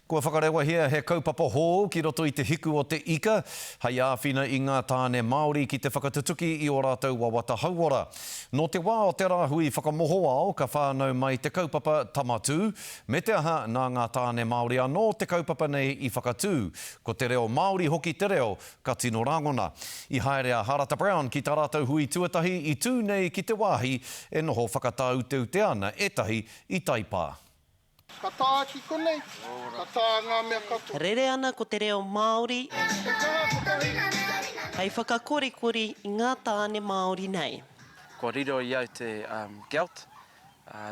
Kua whakarewahia he kaupapa hou ki roto i Te Hiku o te Ika, hei āwhina i ngā tāne Māori ki te whakatutuki i ō rātou wawata hauora. Nō te wā o te Rāhui Whakamohoao ka whānau mai te kaupapa Tama Tū, me te aha, nā ngā tāne Māori anō te kaupapa nei i whakatū, ko te reo Māori hoki te reo ka tino rangona. I haere a Harata Brown ki tā rātou hui tuatahi i tū nei ki te wāhi e noho whakatauteutea ana ētahi i taipā. Ka tāki konei, ka tā ngā mea katoa. Rere ana ko te reo Māori. He kaha ko te ringa nei. Hei whakakorikori i ngā tāne Māori nei. Kua riro i au te gelt,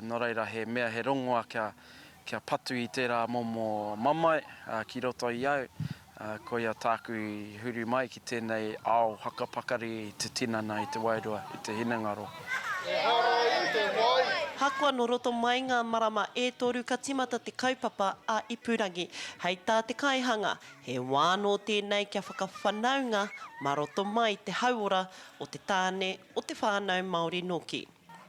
nō reira he mea he rongoa kia patu i tērā momo mamae ki roto i au, Ā, koia tāku i huri mai ki tēnei ao hakapakari i te tinana, i te wairua, i te hinengaro. Ehara i te wai! Ahakoa nō roto mai ngā marama e toru ka tīmata te kaupapa a Ipurangi. Hei tā te kaihanga, he wā nō tēnei kia whakawhanaunga mā roto mai te hauora o te tāne, o te whānau Māori nōki.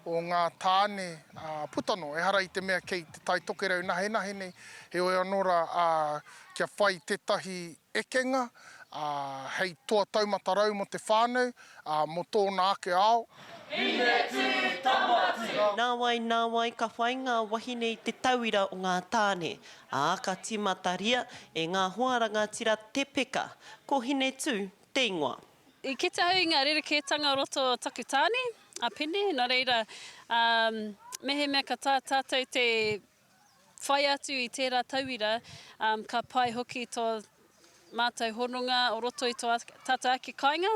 o ngā tāne a Putano, ehara i te mea kei Te Tai Tokerau nahenahe nei, heoi anō rā, ā, kia whai tētahi ekenga, ā, hei toa taumata rau mō te whānau, ā, mō tōna ake ao. Nāwai, nāwai ka whai ngā wahine i te tauira o ngā tāne, ā, ka tīmataria e ngā hoa rangatira te peka, ko Hinetū te ingoa. I kite au i ngā rerekētanga o roto o taku tāne, a Pene, nō reira, mehemea ka tā tātou te whai atu i tērā tauira, ka pai hoki tō mātou hononga o roto i tō tātou ake kāinga.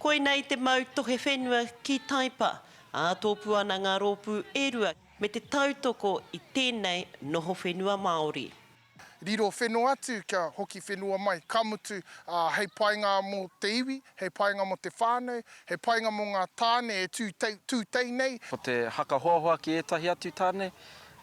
Koinei te mau tohe whenua ki Taipa, ā, tōpū ana ngā rōpū e rua me te tautoko i tēnei noho whenua Māori. riro whenua atu kia hoki whenua mai, ka mutu, ā, hei painga mō te iwi, hei painga mō te whānau, hei painga mō ngā tāne e tū tei, tū tei nei. Ko te haka hoahoa ki ētahi atu tāne,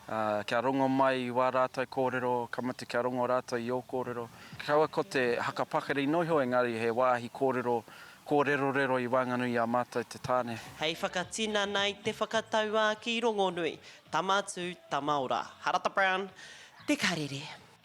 ā, kia rongo mai i wā rātou kōrero, ka mutu kia rongo rātou i ō kōrero. Kaua ko te haka pakari noa iho engari he wāhi kōrero, kōrerorero i waenganui i a mātou te tāne. Hei whakatinana i te whakatauākī rongonui, Tama atu, tama ora. Harata Brown, Te Karere.